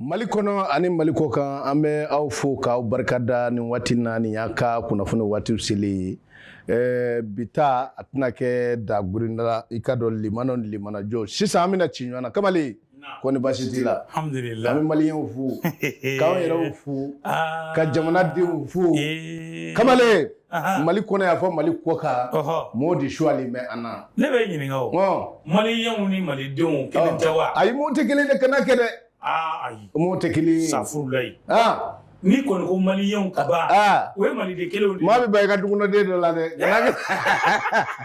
Mali kɔnɔ ani mali kɔ kan an bɛ aw fo k'aw barika da nin waati na nin y'an ka kunnafoni waati selen ye ɛɛ bi ta a tɛna kɛ dagurinda la i k'a dɔn limana limanajɔ sisan an bɛna ci ɲɔgɔn na kamalen ko ni baasi t'i la an bɛ maliyɛnw fo k'an yɛrɛw fo ka jamanadenw fo kamalen mali kɔnɔ yan fo mali kɔ kan mɔgɔw de suwali bɛ an na ne b'i ɲininka o maliyɛnw ni malidenw kelen tɛ wa ayi mɔgɔ tɛ kelen de kana kɛ dɛ ayi mɔgɔ tɛ kelen safurulayi ni kɔni ko maliyɛnw ka ban o ye maliden kelen maa bɛ ba i ka duguden dɔ la dɛ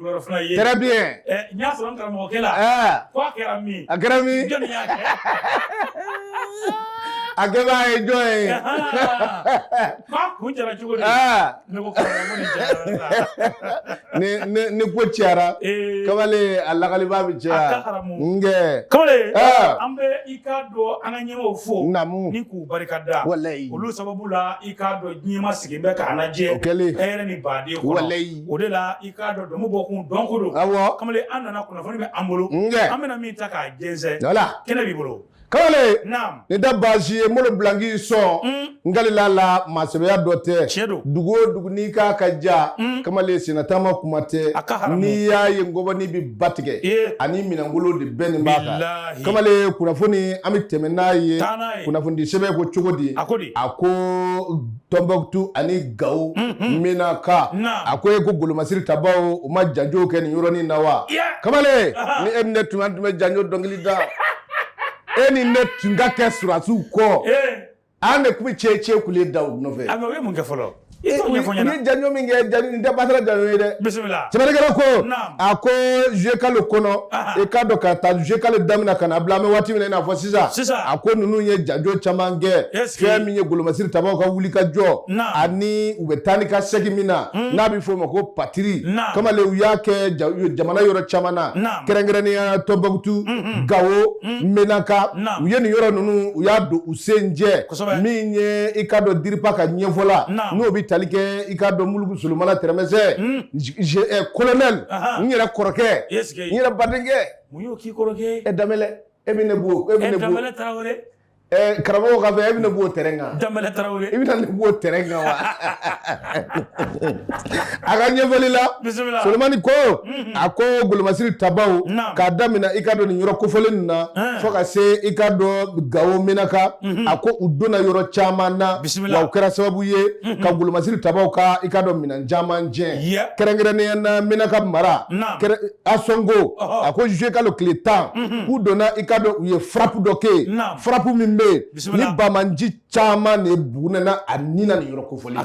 Fana ye très bien n y'a sɔrɔ karamɔgɔkɛ la ko a kɛra min a kɛra min a kɛbaa ye jɔn ye k'a kun jara cogo di ni ko cayara kamalen a lakalibaa bɛ caya nkɛ kamalen an bɛ i k'a dɔn an ka ɲɛmaaw fo naamu ni k'u barika da walayi olu sababu la i k'a dɔn diɲɛ maa sigilen bɛ k'an lajɛ o kɛlen hɛrɛ ni baden kɔnɔ walayi o de la i k'a dɔn dɔnni bɔ kun dɔnko don, awɔ, kamalen an nana kunnafoni bɛ an bolo, n kɛ, an bɛna min ta k'a jɛnsɛn, wala, kɛnɛ b'i bolo. Kamalen, naamu, nin tɛ baasi ye Molo Bilangi sɔn, un, n kalila a la maasɛbɛya dɔ tɛ, tiɲɛ don, dugu o dugu n'i k'a ka ja, un, kamalen sennataama kuma tɛ, a ka haramu, n'i y'a ye ngɔbɔni bɛ ba tigɛ, ee, ani minɛnkolo de bɛɛ nin b'a kan, bilahi, kamalen kunnafoni an bɛ tɛmɛ n'a ye, taa n'a ye, kunnafonidi sɛbɛn ko cogo di, a ko di, a ko Tɔnbɔkutu ani Gawo, unhun, Menaka, naamu, a ko e ko golomasiri tabaaw u ma janjo kɛ nin yɔrɔnin in na wa? Iya! Kamalen, Ahan, ni e ni ne tun bɛ an tun bɛ janjo dɔnkili da, e ni ne tun ka kɛ sɔrɔdasiw kɔ, ee, an de tun bɛ cɛcɛ kule da u nɔfɛ, a mais u ye mun kɛ fɔlɔ? I t'o ɲɛfɔ n ɲɛna, u ye janjo min kɛ, nin tɛ batara janjo ye dɛ, bisimila, sɛbɛnnikɛla ko, naamu. a ko juillet kalo kɔnɔ i k'a dɔn ka taa juillet kalo daminɛ ka na bila an bɛ waati min i n'a fɔ sisan a ko ninnu ye janjo caman kɛ fɛn min ye golomasiri tabaaw ka wuli ka jɔ ani u bɛ taa ni ka segin min na hmm. n'a bɛ fɔ o ma ko patrouille kamalen u y'a kɛ jamana yɔrɔ caman na kɛrɛnkɛrɛnnenya tɔnbɔkutu hmm, hmm. gawo menaka u ye nin yɔrɔ ninnu u y'a don u sen jɛ min ye i k'a dɔn DIRPA ka ɲɛfɔla n'o bɛ tali kɛ i k'a dɔn muluku solomana tɛrɛmɛsɛ colonel n yɛrɛ kɔrɔkɛ n yɛrɛ badenkɛ Danbele e bɛ ne bɔ e bɛ karamɔgɔ ka fɛ e bɛ ne b'o terrain kan Danbele i bɛna ne b'o terrain kan wa a ka ɲɛfɔli la solomana ko a ko golomasiri tabaaw k'a daminɛ i ka dɔn nin yɔrɔ kofɔlen ninnu na fo ka se i ka dɔn gawo menaka a ko u donna yɔrɔ caman na bisimila wa u kɛra sababu ye ka golomasiri tabaaw ka i ka dɔn minɛn caman tiɲɛ kɛrɛnkɛrɛnnenya na menaka mara ansɔngo a ko zuye kalo tile tan k'u donna i ka dɔn u ye frappe dɔ kɛ yen frappe min bɛ yen ni banbaanci caman de bɔnɛna a ni na nin yɔrɔ kofɔlen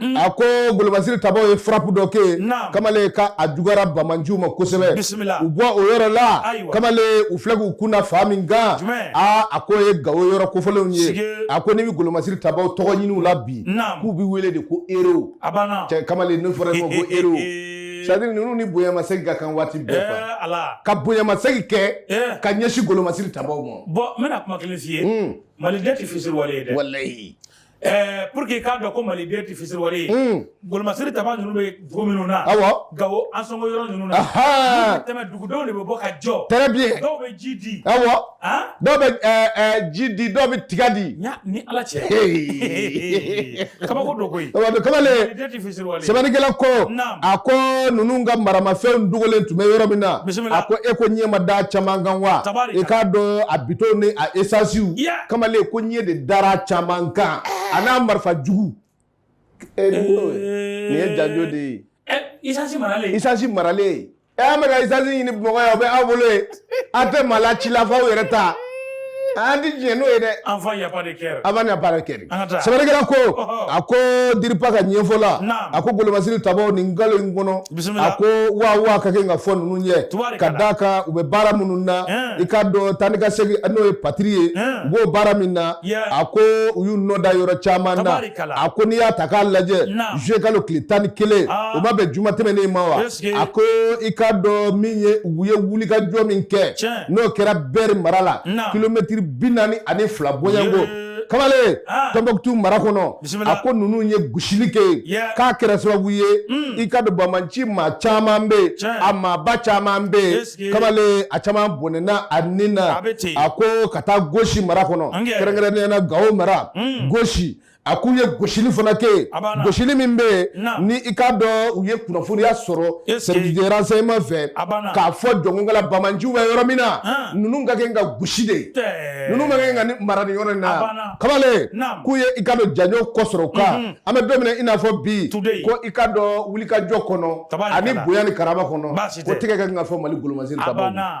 Mm. a ko golomasiri tabaaw ye frappe dɔ kɛ yen kamalen ka a juguyara banbaanciw ma kosɛbɛ u bɔ o yɔrɔ la kamalen u filɛ k'u kun da fan min kan aa a ko ye gawo yɔrɔ kofɔlenw ye a ko n'i bɛ golomasiri tabaaw tɔgɔ ɲini u la bi k'u bɛ wele de ko héros cɛ kamalen ne fɔra ko ko héros c'est-à-dire ninnu ni bonyamasegin ka kan waati bɛɛ quoi eh, ka bonyamasegin kɛ eh. ka ɲɛsin golomasiri tabaaw ma bon n bɛna kuma kelen f'i ye hmm. maliden tɛ fisiriwale ye dɛ walayi Ɛɛ pour que i k'a dɔn ko Mali den tɛ fitiriwale ye, un, golomasiri tabaa ninnu bɛ dugu minnu na, awɔ, Gawo Ansɔngɔ yɔrɔ ninnu na, anhan, n'u bɛ tɛmɛ dugudenw de bɛ bɔ ka jɔ, très bien, dɔw bɛ ji di, awɔ, an, dɔw bɛ ɛɛ ɛɛ ji di, dɔw bɛ tiga di, n y'a ni Ala cɛ, he, kabako don koyi, kabako don, kamalen sɛbɛnnikɛla ko a ko ninnu ka maramafɛn dogolen tun bɛ yɔrɔ min na a ko e ko ɲɛ ma da caman kan wa i k'a dɔn a bidɔn ni a esansiw kamalen ko ɲɛ de dara caman kan a n'a marifa jugu nin ye janjo de ye esansi maralen e an bɛ ka esansi ɲini bamakɔ yan o bɛ aw bolo yen an tɛ maa la ci la f'aw yɛrɛ ta an tɛ diɲɛ n'o ye dɛ an fa yaba de kɛra an b'a baara kɛ An ka taa. sɛbɛnnikɛla ko Ɔhɔ. a ko diripa ka ɲɛfɔ la Naam. a ko golomasiri tabaw nin kalo in kɔnɔ Bisimila. a ko waa waa ka kan ka fɔ ninnu ye Tabaarikala. ka d'a kan u bɛ baara minnu na Ɛn. i ka dɔn taa ni ka segin n'o ye patrouille ye Ɛn. u b'o baara min na Yeah. a ko u y'u nɔ da yɔrɔ caman na Tabaarikala. a ko n'i y'a ta k'a lajɛ Naam. juye kalo tile tan ni kelen Aa. o ma bɛn juma tɛmɛnen ma wa Yes. a ko i ka dɔn min ye u ye wulikajɔ min kɛ n'o kɛra bɛri mara la kilomɛtiri bi naani ani fila bɔɲɔgo kamalen ah. tɔnbɔkutu mara kɔnɔ a ko ninnu ye gosili kɛ yen k'a kɛra sababu ye hmm. i ka dɔn banbaanci maa caman bɛ yen a maaba caman bɛ yen kamalen a caman bɔnɛna a ni na a ko ka taa gosi mara kɔnɔ kɛrɛnkɛrɛnnenya na gawo mara hmm. gosi a k'u ye gosili fana kɛ yen gosili min bɛ yen ni i k'a dɔn u ye kunnafoniya sɔrɔ service de renseignement fɛ k'a fɔ jɔnkala banbaanciw bɛ yɔrɔ min na ninnu ka kan ka gosi de ninnu man kan ka ni mara nin yɔrɔ in na kamalen k'u ye i ka dɔn janjo ko sɔrɔ o kan an bɛ don min na i n'a fɔ bi ko i ka dɔn wulikajɔ kɔnɔ ani bonya ni karama kɔnɔ ko tɛgɛ ka kan ka fɔ mali golomasi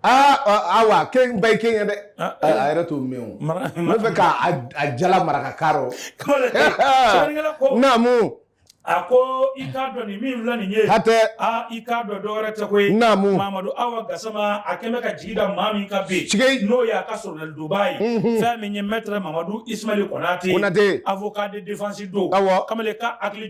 ayiwa kɛba ye kɛ ye dɛ a yɛrɛ t'o mɛn o n fɛ k' a jala maraka ka naamu a ko i k'a dɔn nin min filɛ nin ye hatɛ aa i k'a dɔn dɔwɛrɛ tɛ koyi naamu mamadu awa gasama a kɛ bɛ ka jigi da maa min kan bi cike n'o y'a ka soronadonbaa ye fɛn min ye mɛtɛrɛ mamadu isumali konate avocat de défense don awɔ kamalen ka hakili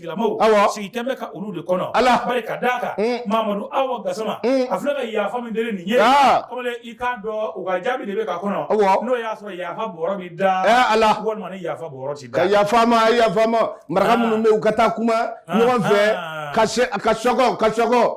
lamɔ sigi kɛ bɛ ka olu de kɔnɔ ala bari ka d'a kan mamadu awa gasama a filɛ ka yafa min deli nin ye kɔmi i k'a dɔn u ka jaabi de bɛ ka kɔnɔ n'o y'a sɔrɔ yafa bɔrɔ bɛ da ala walima ni yafa bɔrɔ tɛ da yafa ma yafa ma maraka minnu bɛ u ka taa kuma ɲɔgɔn fɛ ka se ka sɔgɔ ka sɔgɔ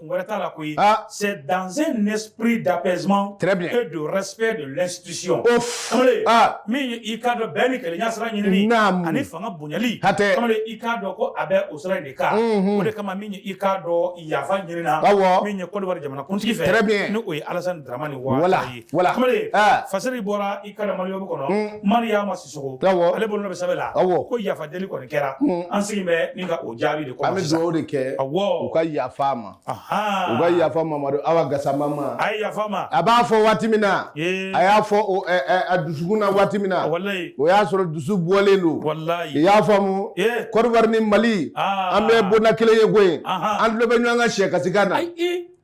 Kun wɛrɛ t'a la koyi aa c'est dans un esprit d'apaisement très bien et de respect de l'institution ouf kamalen aa min ye i k'a dɔn bɛn ni kelenya sira ɲinini naamu ani fanga bonyali hatɛ kamalen i k'a dɔn ko a bɛ o sira in de kan unhun o de kama min ye i k'a dɔn yafa ɲinini na awɔ min ye Côte d'Ivoire jamanakuntigi fɛ très bien ni o ye Alassane Dramane Ouattara ye voilà voilà kamalen aa fasiri bɔra i k'a dɔn Maliweb kɔnɔ un Mariama S ale bolo bɛ sɛbɛn la ko yafa deli kɔni kɛra an sigi bɛ nin ka o jaabi de kɔnɔ an bɛ dugawu de kɛ u ka yafa ma u ka yafa mamadu awa gasama ma a yafa ma a b'a fɔ waati min na a y'a fɔ a dusukun na waati min na o y'a sɔrɔ dusu bɔlen don i y'a faamu Côte d'Ivoire ni mali an bɛ bonda kelen ye koyi an tulo bɛ ɲɔgɔn ka sɛ kasikan na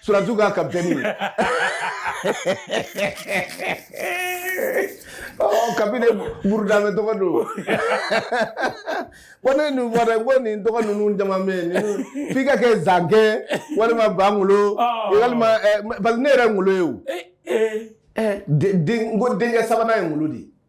Surasiw ka kapitɛni oh, kapi nin burudame tɔgɔ don ko ne nin fɔra ko nin tɔgɔ ninnu caman bɛ yen f'i ka kɛ zankɛ walima bangolo ah. walima eh, parce que ne yɛrɛ ngolo ye o eh, eh. n ko denkɛ sabanan ye ngolo de ye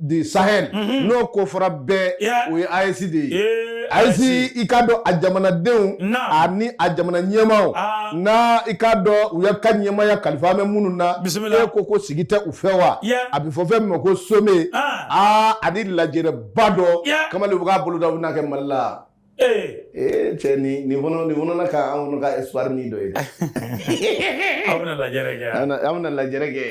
du sahel n'o ko fɔra bɛɛ o ye AES de ye AES i k'a dɔn a jamanadenw ani a jamana ɲɛmaaw n'a i k'a dɔn u ye ka ɲɛmaaya kalifa bɛ minnu na e ko ko sigi tɛ u fɛ wa a bɛ fɔ fɛn min ma ko sommet aa ani lajɛrɛba dɔ kamalen u bɛ k'a boloda u bɛn'a kɛ mali la ee cɛ ni nin fana nin fana ka an kɔni ka espoir ni dɔ ye dɛ aw bɛna lajɛrɛ kɛ an bɛna an bɛna lajɛrɛ kɛ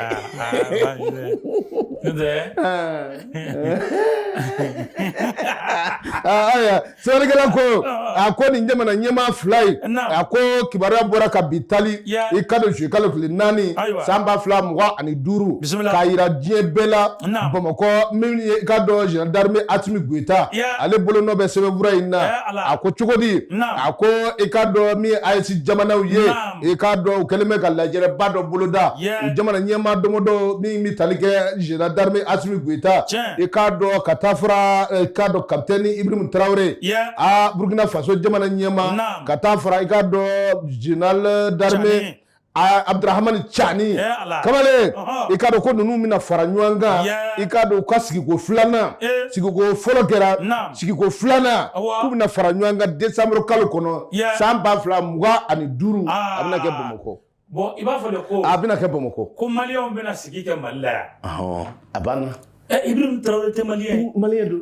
ayiwa sɛbɛnnikɛla ko a ko nin jamana ɲɛmaa fila ye a ko kibaruya bɔra ka bi tali i k'a dɔn zuluye kalo tile naani san ba fila mugan ani duuru bisimila k'a jira diɲɛ bɛɛ la Naamu. bamakɔ min ye i k'a dɔn général d'armée asimi goyita Ya. ale bolo nɔ bɛ sɛbɛnfura in na Ya, Ala. a ko cogo di Naamu. a ko i k'a dɔn min ye AES jamanaw ye Naamu. i k'a dɔn u kɛlen bɛ ka lajɛrɛba dɔ boloda Ya. u jamana ɲɛmaa dɔmɔdɔ min bɛ tali kɛ général d'armée asimi goyita Tiɲɛ. i k'a dɔn ka taa fara eh, i k'a dɔn kapitɛni ibirimu tarawele Ya. a burkina faso jamana ɲɛmaa Naamu. ka taa fara i k'a dɔn général d'armée Tiɲɛ. Abudurahamani Cani kamalen i k'a dɔn ko ninnu bɛna fara ɲɔgɔn kan i k'a dɔn u ka sigiko filanan sigiko fɔlɔ kɛra sigiko filanan k'u bɛna fara ɲɔgɔn kan desanburu kalo kɔnɔ san ba fila mugan ani duuru a bɛna kɛ Bamakɔ bon i b'a fɔ de ko a bɛna kɛ Bamakɔ ko maliyɛnw bɛna sigi kɛ Mali la yan a banna Ibrahim Traore tɛ maliyɛn ye maliyɛn don.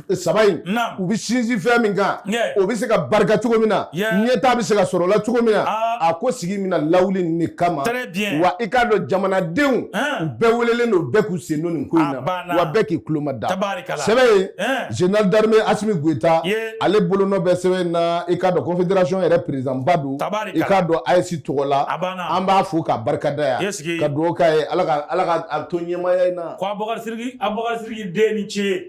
saba in u bɛ sinsin fɛn min kan o bɛ se ka barika cogo min na ɲɛtaa bɛ se ka sɔrɔ o la cogo min na a ko sigi bɛna lawuli nin de kama wa i k'a dɔn jamanadenw u bɛɛ welelen don bɛɛ k'u sen don nin ko in na wa bɛɛ k'i tulo mada sɛbɛn ye général d'armée asimi goyita ale bolonɔ bɛ sɛbɛn in na i k'a dɔn confédération yɛrɛ perezidanba don i k'a dɔn AES tɔgɔ la an b'a fo ka barika d'a ye ka dugawu k'a ye ala k'a to ɲɛmaya in na ko a bakarijan a bakarijan den ni ce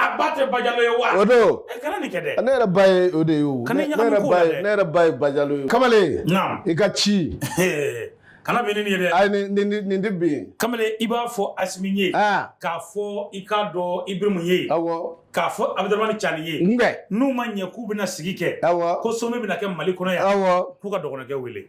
A ba tɛ bajalo ye wa o don e kana nin kɛ dɛ ne yɛrɛ ba ye o de ye o ne yɛrɛ ba ye bajalo ye kamalen i ka ci kana bin yen dɛ ayi nin tɛ bin kamalen i b'a fɔ asimi ye k'a fɔ i k'a dɔn ibirimu ye aw k'a fɔ abudurahamani cani ye n'u ma ɲɛ k'u bɛna sigi kɛ aw ko sommet bɛna kɛ mali kɔnɔ yan aw k'u ka dɔgɔkɛ wele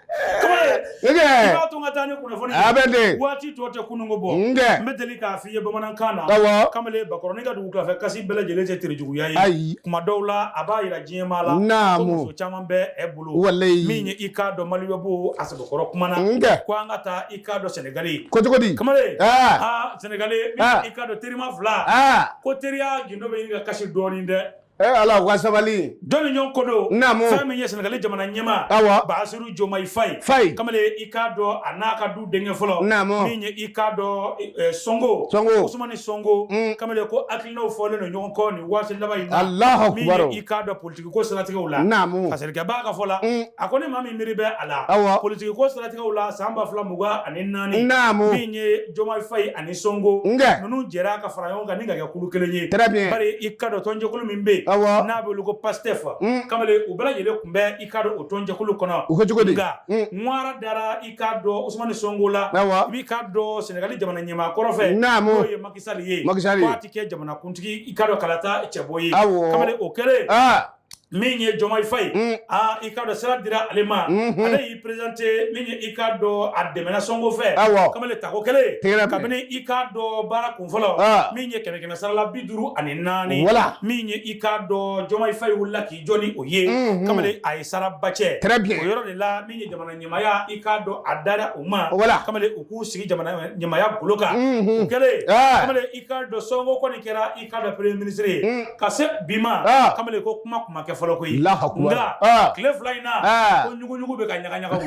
waati tɔ tɛ kununko bɔ n bɛ deli k'a f'i ye bamanankan na kamalen bakɔrɔnin ka dugutila fɛ kasi bɛɛ lajɛlen tɛ terejuguya ye ayi kuma dɔw la a b'a jira diɲɛ maa la naamu ko muso caman bɛ e bolo walayi min ye i k'a dɔn maliba b'o a sɛbɛkɔrɔ kuma na n kɛ ko an ka taa i k'a dɔn sɛnɛgali ko cogo di kamalen aa sɛnɛgali i k'a dɔn terima fila ko teriya gindo bɛ ɲini ka kasi dɔɔnin dɛ Ee ala ka sabali don u ɲɔgɔn ko don fɛn min ye sɛnɛgali jamana ɲɛmaa basiru jomayi fayi fa kamalen i k'a dɔn a n'a ka du denkɛ fɔlɔ min ye i k'a dɔn sɔnko usumani sɔnko kamalen ko hakilinaw fɔlen don ɲɔgɔn kɔ nin waati laban in na min ye i k'a dɔn politiki ko siratigɛw la kɔlɔsilikɛbaa ka fɔ la a ko ni maa min miiri bɛ a la politiki ko siratigɛw la san ba fila mugan ani naani min ye jomayi fayi ani sɔnko ninnu jɛra ka fara ɲɔgɔn kan ni ka kɛ kulu kelen ye bari i k'a dɔn tɔnjɛkulu min bɛ yen n'a bɛ wele ko pastɛf mm. kamalen u bɛɛ lajɛlen tun bɛ i k'a dɔn o tɔnjɛkulu kɔnɔ a ko cogo di nka mm. ŋwara dara i k'a dɔn usumani sɔnko la i b'i k'a dɔn sɛnɛgali jamana ɲɛmaa kɔrɔ fɛ n'o ye maki sali ye k'a tɛ kɛ jamanakuntigi i k'a dɔn kalata cɛbɔ ye kamalen o kɛlen ah. min ye Diomaye Faye mm. aa i k'a dɔn sira dira ale ma mm-hmm. ale y'i présenté min ye i k'a dɔn a dɛmɛna Sonko fɛ awɔ kamalen tako kelen tigɛra kabini i k'a dɔn baara kun fɔlɔ ah. min ye kɛmɛ kɛmɛ sarala bi duuru ani naani wala min ye i k'a dɔn Diomaye Faye wulila k'i jɔ ni o ye mm-hmm. kamalen a ye sara ba cɛ très bien o yɔrɔ de la min ye jamana ɲɛmaaya i k'a dɔn a dara u ma wala kamalen u k'u sigi jamana ɲɛmaaya golo kan mm-hmm. o kɛlen ah. kamalen i k'a dɔn Sonko kɔni kɛra k'a dɔn premier ministre ye ka se bi ma kamalen ko kuma kun ma kɛ fɔlɔ koyi nka tile fila in na ko ɲuguɲugu bɛ ka ɲaga ɲaga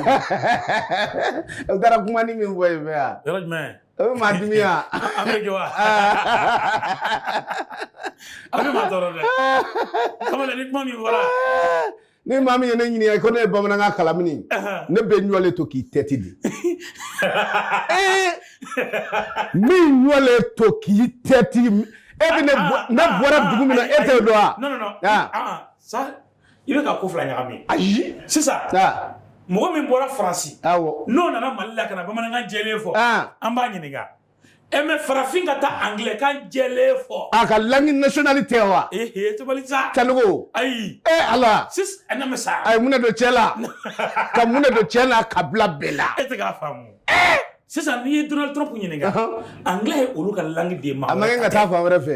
o taara kuma ni min fɔ yen fɛ yan yɔrɔ jumɛn o bɛ maa dimi yan an bɛ jɔ wa a bɛ maa tɔɔrɔ dɛ kamalen ni kuma min fɔra ni maa min ye ne ɲininka ko ne ye bamanankan kalan mini ne bɛ ɲɔlen to k'i tɛti de min ɲɔlen to k'i tɛti e bɛ ne ah, ah, ah, bɔra dugu min na e t'o dɔn wa. non non non sa i bɛ ka ko fila ɲagami. ayi sisan. mɔgɔ min bɔra faransi. awɔ n'o nana mali la ka na bamanankan jɛlen fɔ. an b'a ɲininka. E mais farafin ka taa anglais kan jɛlen fɔ a ka langue nationale tɛ wa cɛkɔrɔba ayi e ala sa a ye mun don cɛ la ka mun don cɛ la ka bila bɛɛ la e sisan n'i ye Donald Trump ɲininka anglais ye olu ka langue de ma kɛ ka taa fan wɛrɛ fɛ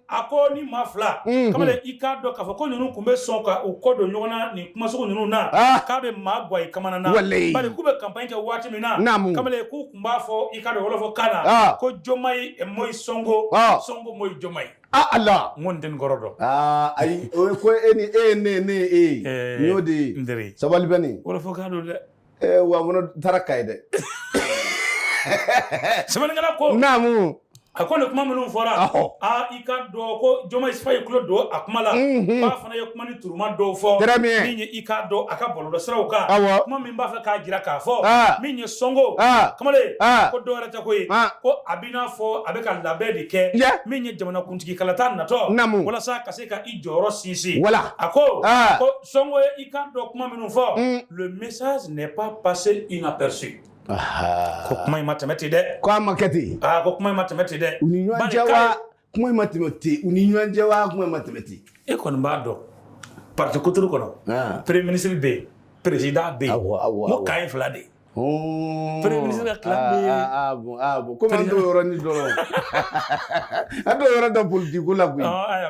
a ko ni maa fila kamalen i k'a dɔn k'a fɔ ko ninnu tun bɛ sɔn ka u kɔ don ɲɔgɔn na nin kuma sugu ninnu na k'a bɛ maa gwan i kamana na bari k'u bɛ campagne kɛ waati min na kamalen k'u tun b'a fɔ i k'a dɔn wɔlɔfɔ kan na ko Diomaye mooy Sonko Sonko mooy Diomaye ala n ko n t'o kɔrɔ dɔn ayi o ko e ni e ne ne e y'o de ye sabali bɛ nin wɔlɔfɔ don dɛ Eh, wa n kɔni taara Kayi dɛ sɛbɛnnikɛla ko naamu a ko nin kuma minnu fɔra aa i k'a dɔn ko Diomaye Faye tulo don a kuma la mhm. k'a fana ye kuma ni turuma dɔw fɔ min ye i k'a dɔn a ka bɔlɔlɔsiraw kan kuma min b'a fɛ k'a jira k'a fɔ min ye Sonko kamalen ko dɔwɛrɛ tɛ ko ye ko a b'i n'a fɔ a bɛ ka labɛn de kɛ min ye jamanakuntigi kalata natɔ walasa ka se ka i jɔyɔrɔ sinsin a ko Sonko ye i k'a dɔn kuma minnu fɔ mm. le message n'est pas passé inaperçu ko kuma in ma tɛmɛ ten dɛ ko a ma kɛ ten aa ko kuma in ma tɛmɛ ten dɛ u ni ɲɔgɔn cɛ wa kuma in ma tɛmɛ ten u ni ɲɔgɔn cɛ wa kuma in ma tɛmɛ ten e kɔni b'a dɔn parti kuturu kɔnɔ premier ministre bɛ yen président bɛ yen n ko kan ye fila de ye Premier ministre ka clan kɔmi an yɔrɔ ni dɔrɔn an bɛ yɔrɔ da politiki la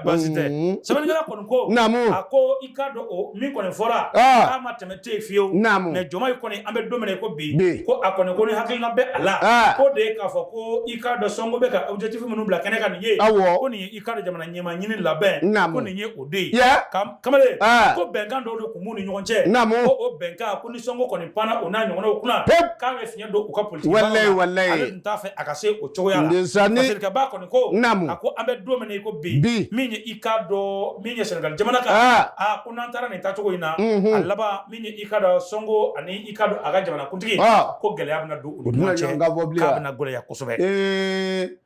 baasi tɛ Senegali la kɔni ko naamu a ko i k'a dɔn o min kɔni fɔra k'a ma tɛmɛ tɛ fiyewu mais Jomayi kɔni an bɛ don min na i ko bi ko a kɔni ko ni hakilina bɛ a la ko de k'a fɔ ko i k'a dɔn Sonko bɛ ka objectif minnu bila kɛnɛ kan nin ye ko nin i k'a dɔn jamana ɲɛmaa ɲini labɛn ko nin ye o de ye kamalen ko bɛnkan dɔw de tun b'u ni ɲɔgɔn cɛ o bɛnkan Sonko kɔni panna o n'a ɲɔgɔnnaw kunna pewu k'a bɛ fiɲɛ don u ka politiki baara la walayi walayi ale tun t'a fɛ a ka se o cogoya la ndesanni parce que Senegalba kɔni ko naamu a ko an bɛ don min na i ko bi bi min ye i k'a dɔn min ye Senegali jamana kan aa aa ko n'an taara nin taacogo in na unhun a laban min ye i k'a dɔn Sonko ani i k'a dɔn a ka jamanakuntigi ɔ ko gɛlɛya bɛna don u ni ɲɔgɔn cɛ u tɛna ɲɔgɔn kan fɔ bilen ko a bɛna gɛlɛya kosɛbɛ ee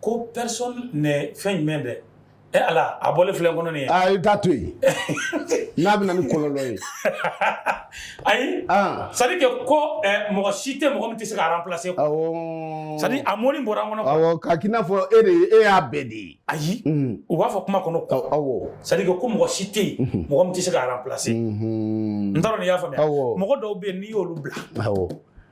ko personne n'est fɛn jumɛn dɛ e ala a bɔlen filɛ n kɔnɔ nin ye a t'a to yen n'a bɛ na ni kɔlɔlɔ ye ayi c'est-à-dire que ko mɔgɔ si tɛ mɔgɔ min tɛ se ka remplacer c'est-à-dire a mot nin bɔra n kɔnɔ ka kɛ i n'a fɔ e de e a bɛ di ayi u b'a fɔ kuma kɔnɔ ko c'est-à-dire que ko mɔgɔ si tɛ yen mɔgɔ min tɛ se ka remplacer n t'a dɔn n'i y'a faamuya mɔgɔ dɔw bɛ yen n'i y'olu bila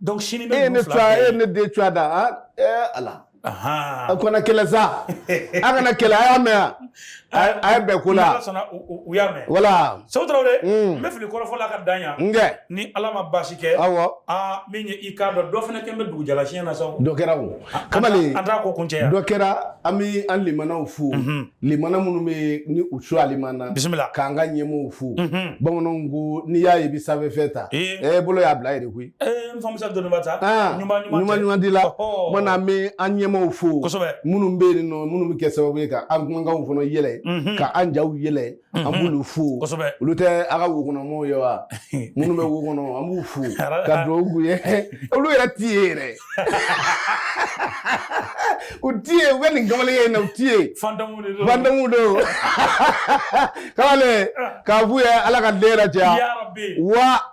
donc sini bɛ e ne fa e ne den cogoya da a ɛɛ ala a kana kɛlɛ sa a kana kɛlɛ a y'a mɛn yan a ye bɛn ko la u y'a mɛn wala Sogo Tarawele n bɛ fili kɔrɔfɔ la ka dan yan ni ala ma baasi kɛ awɔ aa min ye i k'a dɔn dɔ fana kɛ n bɛ dugujala siɲɛ na sa dɔ kɛra o kamalen an t'a ko kuncɛ yan dɔ kɛra an bɛ an limanaw fo. limana minnu bɛ ni u su alimana bisimila k'an ka ɲɛmɔgɔw fo bamananw ko n'i y'a ye i bɛ sanfɛ fɛn ta ɛ bolo y'a bila yen de koyi n fa Musa dɔnniba ta ɲuman ɲuman di la mana an bɛ an ɲɛmɔgɔw fo kosɛbɛ minnu bɛ yen nɔ minnu bɛ kɛ sababu ye ka an kanw fana yɛlɛ ka an jaw yɛlɛ an b'olu fo kosɛbɛ olu tɛ a ka wokɔnɔmɔgɔw ye wa minnu bɛ wo kɔnɔ an b'u fo ka dugawu k'u ye olu yɛrɛ tɛ ye yɛrɛ u tɛ ye u bɛ nin kamalen ye na u tɛ ye fantôme de don fantôme don kamalen k'a f'u ye ala ka den yɛrɛ caya wa